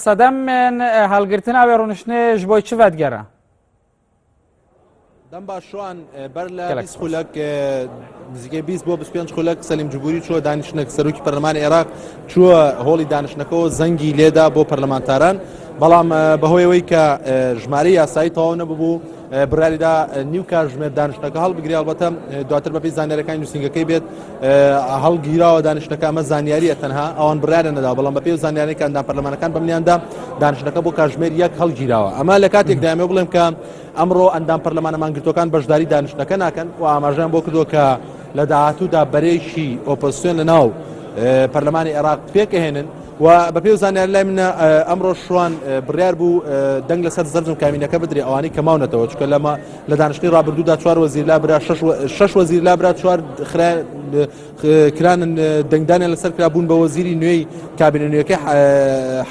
سەدەم من هەڵگرتن ئاوێ ڕونشتێ ژ بۆی چ ڤەتگەرە؟ دەم باشوان بەر لە خولک نزیگەی 20 بۆ 25 خولک سەلیم جبووری چوە دانیشتنێک سەرۆکی پەرلەمان عێراق چووە هۆڵی دانیشتەکەەوە زەنگی لێدا بۆ پەرلەمانتاران بەڵام بەهۆیەوەی کە ژمارە یاسایی تەواو نەببوو بڕیاریدا نیو کاژمێر دانیشتەکە هەڵبگری هەڵبەتە دواتر بەپی زانانیەکانی نووسنگەکەی بێت هەڵگیراوە دانیشتەکە ئەمە زانیاریە تەنها ئەوان بڕیارە نەدا بەڵام بەپی زانانیەکاندا پەرلەمانەکان بەمنیاندا دانیشتەکە بۆ کاژمێر یەک هەڵگیراوە ئەمە لە کاتێک دامێ بڵێم کە ئەمڕۆ ئەندام پەرلەمانەمان گرتوەکان بەشداری دانیشتەکە ناکەن و ئاماژیان بۆ کردو کە لە داهاتوودا بەرەیەکی ئۆپۆزسیۆن لە ناو پەرلەمانی عێراق پێکەهێنن و بە پێی زانیار لای منە ئەمڕۆ شوان بڕیار بوو دەنگ لەسەر زەرزم کامینەکە بدرێ ئەوانی کە ماونەتەوە چکە لەمە لە دانیشتنی ڕابردوودا چوار وەزیر لا برا شش وەزیر لا برا چوار کرانن دەنگدانیان لەسەر کرا بوون بە وەزیری نوێی کابینە نوێەکە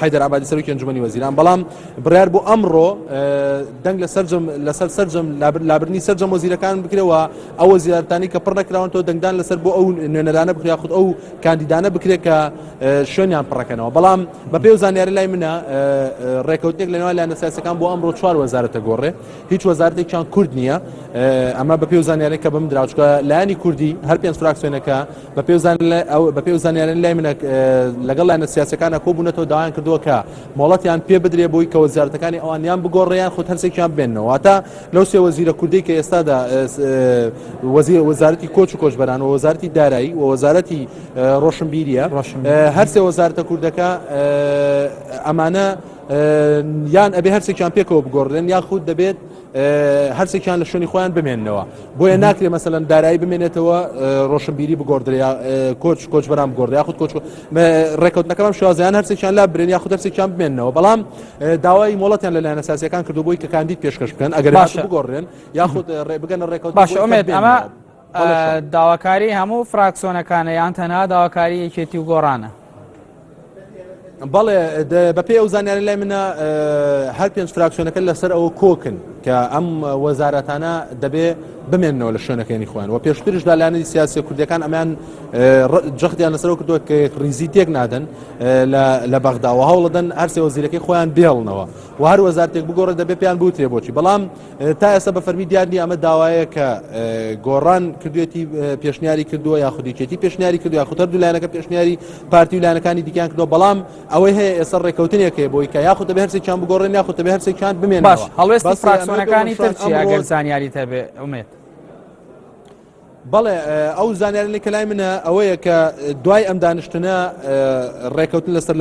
حیدر عبادی سەرۆکی ئەنجومەنی وەزیران بەڵام بڕیار بۆ ئەمڕۆ دەنگ لە سەرجم لەسەر سەرجم لابرنی سەرجەم وەزیرەکان بکرەوە ئەو وەزیارەتانەی کە پڕ نەکراونەتەوە دەنگدان لەسەر بۆ ئەو نوێنەرانە بکرێ یاخود ئەو کاندیدانە بکرێت کە شوێنیان پڕەکەنەوە بەڵام بە پێ و زانیاری لای منە ڕێکەوتێک لەنەوە لایەنە سیاسەکان بۆ ئەمڕۆ چوار وەزارەتە گۆڕێ هیچ وەزارەتێکیان کورد نییە ئەمە بە پێ و زانیاری کە بم دراوچکە لایانی کوردی هەر پێنج فراکسیۆنەکە بە پێ بە پێ و زانیارن لای منە لەگەڵ لایەنە سیاسەکانە کۆ بوونەتەوە داوایان کردووە کە مۆڵەتیان پێ بدرێ بۆی کە وەزارەتەکانی ئەوانیان بگۆڕیان خود هەرسێکیان بێنەوە تا لەو سێ وەزیرە کوردەی کە ئێستادا وەزیر وەزارەتی کۆچ و کۆچبەران و وەزارەتی دارایی و وەزارەتی ڕۆشنبیریە هەر سێ وەزارتە کوردەکە ئەمانە یان ئەبێ هەرسێکیان پێکەوە بگۆڕێن یاخود دەبێت هەرسێکیان لە شوێنی خۆیان بمێنەوە بۆیە ناکرێ مەسەن دارایی بمێنێتەوە ڕۆشنبیری بگۆدرێ کۆچ کۆچبران بگۆدرێ یاخود کۆچ ڕێکوتەکەم شازیان هەرسێکیان لا برێن یاخود هەرسێکیان بمێنەوە بەڵام داوای مۆڵەتیان لە لایەنە سیاسیەکان کردو بۆی کە کاندید پێشکەش بکەن ئەگەر باشە بگۆڕێن یاخود ڕێ بگەنە ڕێکەوت باشە ئومێد ئەمە داواکاری هەموو فراکسۆنەکانە یان تەنها داواکاری یەکێتی و گۆڕانە بەڵێ بەپێ ئەو زانیاری لای منە هەر پێنج فراکسیۆنەکە لەسەر ئەوە کۆکن کە ئەم وەزارەتانە دەبێ بمێنەوە لە شوێنەکەی خوێن و پێشترش دالانی سیاسی کوردەکان ئەمان جەختیان لەسەر کردووە کە ریزی تێک نادەن لە بەغدا و هەوڵدەن هەرسێ وەزیرەکەی خۆیان بێڵنەوە و هەر وەزارتێک بگۆڕێت دەبێ پێیان بوترێ بۆچی بەڵام تا ئێستا بە فەرمی دیارنی ئەمە داوایە کە گۆڕان کردوێتی پێشنیاری کردووە یا خودیچێتی پێشنیاری کردو یا خودەر دوولایەنەکە پێشنیاری پارتی و لایەنەکانی دیکان کردو بەڵام ئەوەی هەیە ئێستا ڕێککەوتنێکەیە بۆی کە یاخود دەبێ هەرسێکیان بگۆڕێن یاخود دەبێ هەرسێکیان بمێن باش هەڵوێستی فراکسۆنەکانی ترچی ئەگەر زانیاری تەبێ ئومێت بەڵێ ئەو زانیارەی کە لای منە ئەوەیە کە دوای ئەم دانیشتنە ڕێکەوتن لەسەر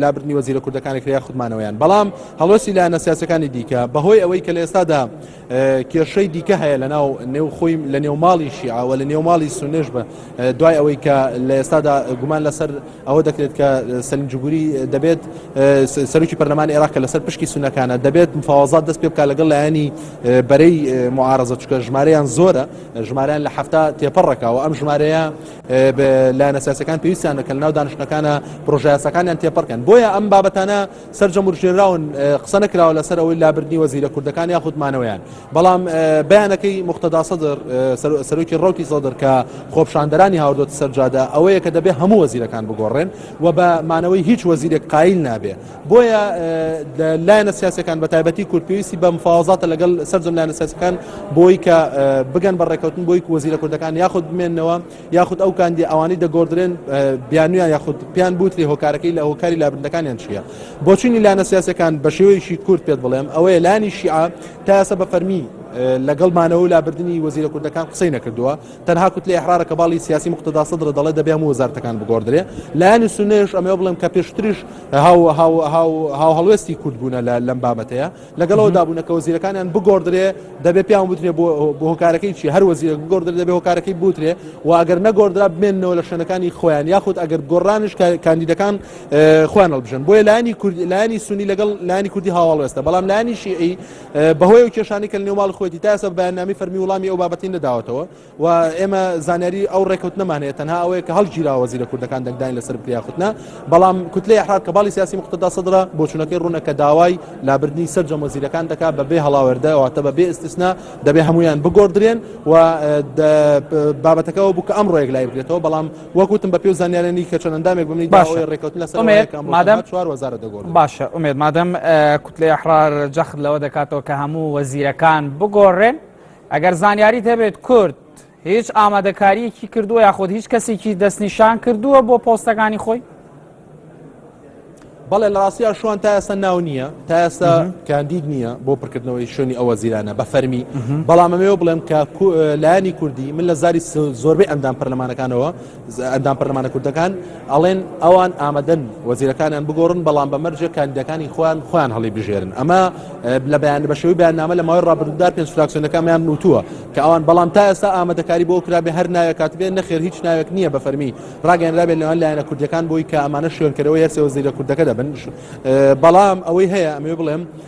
لابردنی وەزیرە کوردەکانی کریا خودمانەوەیان بەڵام هەڵۆسی لایەنە سیاسەکانی دیکە بەهۆی ئەوەی کە لە ئێستادا کێشەی دیکە هەیە لە ناو نێو خۆی لە نێو ماڵی شیعەوە لە نێو ماڵی سونێش بە دوای ئەوەی کە لە ئێستادا گومان لەسەر ئەوە دەکرێت کە سەلیم جوگوری دەبێت سەرکی پەرلەمانی عێراق کە لەسەر پشکی سونەکانە دەبێت مفاوازات دەست پێ بکە لەگەڵ لایەنی بەرەی معارزە چکە ژمارەیان زۆرە ژمارەیان لە هەفتا تێپەڕەکەەوە ئەم ژمارەیە لایەنە سیاسەکان پێویستیان دەکەن ناو دانیشتەکانە پرۆژیاسەکانیان تێپەڕکەن بۆیە ئەم بابەتانە سەرجەم وروژێنراون قسە نەکراوە لەسەر ئەوەی لابردنی وەزیرە کوردەکان یاخود مانەوەیان بەڵام بەیانەکەی مختدا سەدر سەرۆکی ڕوتی سەدر کە خۆپشاندەرانی هاوردۆت سەرجادە ئەوەیە کە دەبێ هەموو وەزیرەکان بگۆڕێن و بە مانەوەی هیچ وەزیرێک قایل نابێ بۆیە لایەنە سیاسەکان بە تایبەتی کورد پێویستی بە مفاوازاتە لەگەڵ سەرجەم لایەنە سیاسەکان بۆی کە بگەن بە ڕێکەوتن بۆی وەزیرە کوردەکان یاخود بمێنەوە یاخود ئەو کاندیە ئەوانەی دەگۆردرێن بیانویان یاخود پێیان بوتری هۆکارەکەی لە هۆکاری لابردەکانیان چییە بۆچینی لایەنە سیاسەکان بە شێوەیەکی کورت پێت بڵێم ئەوەیە لانی شیعە تا ئێستا بە فەرمی لەگەڵمانەوە لابردننی وەزیرە کوردەکان قسەی نەکردووە تەنها کوت لە حرارە کە باڵی سیاسی مختدا سەدر دەڵێ دەبێ هەموو وەزارتەکان بگۆدرێ لایانی سنێش ئەمە بڵێم کە پێشتریش هاو هاو هاو هاو هەڵوێستی کورد بوونە لە لەم بابەتەیە لەگەڵ ئەوەدا بوونە کە وەزیرەکانیان بگۆڕدرێ دەبێ پیاوان بوترێ بۆ هۆکارەکەی چی هەر وەزیرێک بگۆڕدر دەبێ هۆکارەکەی بوترێ و ئەگەر نەگۆڕدرا بمێنەوە لە شوێنەکانی خۆیان یاخود ئەگەر گۆڕانش کاندیدەکان خۆیان هەڵبژن بۆیە لایانی کوردی لایانی سونی لەگەڵ لایانی کوردی هاواڵێستە بەڵام لایانی شیعی بەهۆی و کێشانی کە لە نێوماڵ خۆێتی تاسە بەیاننامی فەرمی وڵامی ئەو بابەتی نەداوەتەوە و ئێمە زانیاری ئەو ڕێکوتنەمان هەیە تەنها ئەوەیە کە هەڵگیرا وەزیرە کوردەکان دەنگدان لەسەر بکریاخوتنا بەڵام کوتلە یحرار کە باڵی سیاسی مختدا سەدرا بۆچونەکەی ڕوونە کە داوای لابردنی سەررجەم وەزیرەکان دەکات بەبێ هەڵاوەردەواتە بەبێ ئستیسنا دەبێ هەمویان بگۆدرێن و بابەتەکەەوە بوو کە ئەم ڕۆێک لای بگرێتەوە بەڵام وەکوتم بە پێ زانیارێنی کە چەندەندامێک بنی باشە ڕێکوتن لەسەر مادەم چوار وەزارە دەگۆ باشە ئومێت مادەم کوتلە یحرار جەخت لەوە دەکاتەوە کە هەموو وەزیرەکان بگۆڕێن ئەگەر زانیاریت هەبێت کورد هیچ ئامادەکاریەکی کردووە یاخود هیچ کەسێکی دەستنیشان کردووە بۆ پۆستەکانی خۆی بەڵێ لە ڕاستیا شوان تا ئێستا ناو نییە تا ئێستا کاندید نییە بۆ پڕکردنەوەی شوێنی ئەوە زیرانە بە فەرمی بەڵامەوەێ بڵێم کە لایانی کوردی من لە زاری زۆربەی ئەندام پەرلەمانەکانەوە ئەندام پەرلەمانە کوردەکان ئەڵێن ئەوان ئامادەن وەزیرەکانیان بگۆڕن بەڵام بە مەرجێک کاندیدەکانی خۆیان خۆیان هەڵی بژێرن ئەمە لە بەیان بەشێوی بەیاننامە لە ماوەی ڕابردوودا پێنج فراکسیۆنەکانیان نووتووە کە ئەوان بەڵام تا ئێستا ئامادەکاری بۆ کرابێ هەر ناوێک کاتبێن نەخێر هیچ ناوێک نییە بە فەرمی ڕاگەنرابێ لەوان لایەنە کوردەکان بۆی کە ئەمانە شوێنکەرەوە یەرسێ وەزیرە کوردەکە دەبن بەڵام ئەوەی هەیە ئەمێ بڵێم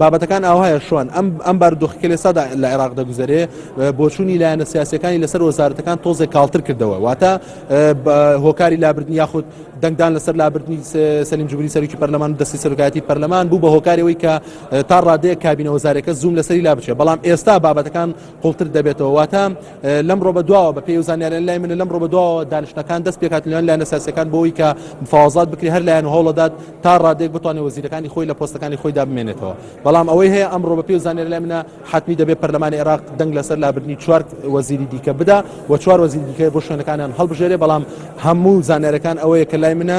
بابەتەکان ئاوهایە شوان ئەم ئەم بارودۆخی کە لێسادا لە عێراق دەگوزەرێ بۆچوونی لایەنە سیاسەکانی لەسەر وەزارەتەکان تۆزێک کاڵتر کردەوە واتە هۆکاری لابردن یاخود دەنگدان لەسەر لابردنی سەلیم جوبری سەرکی پەرلەمان دەستی سەرکاتی پەرلەمان بوو بە هۆکارەوەی کە تا ڕادەیە کابینە وەزارەکە زووم لەسەری لا بچێت بەڵام ئێستا بابەتەکان قوڵتر دەبێتەوە واتە لەم ڕۆ بە دواوە بە پێی و زانیاریان لای منە لەم ڕۆ بە دواوە دانیشتەکان دەست پێکاتلیان لایەنە ساسەکان بۆی کە مفاوازات بکری هەر لایەن هەوڵەدات تا ڕادێک بتوانێت وەزیرەکانی خۆی لە پۆستەکانی خۆیدا بمێنێتەوە بەڵام ئەوەی هەیە ئەم ڕۆ بە پێی و زانیاری لای منە حتمی دەبێت پەرلەمانی عێراق دەنگ لەسەر لابردنی چوار وەزیری دیکە بدا و چوار وەزیری دیکە بۆ شوێنەکانیان هەڵبژێرێ بەڵام هەموو زانارەکان ئەوەیە کە لای منە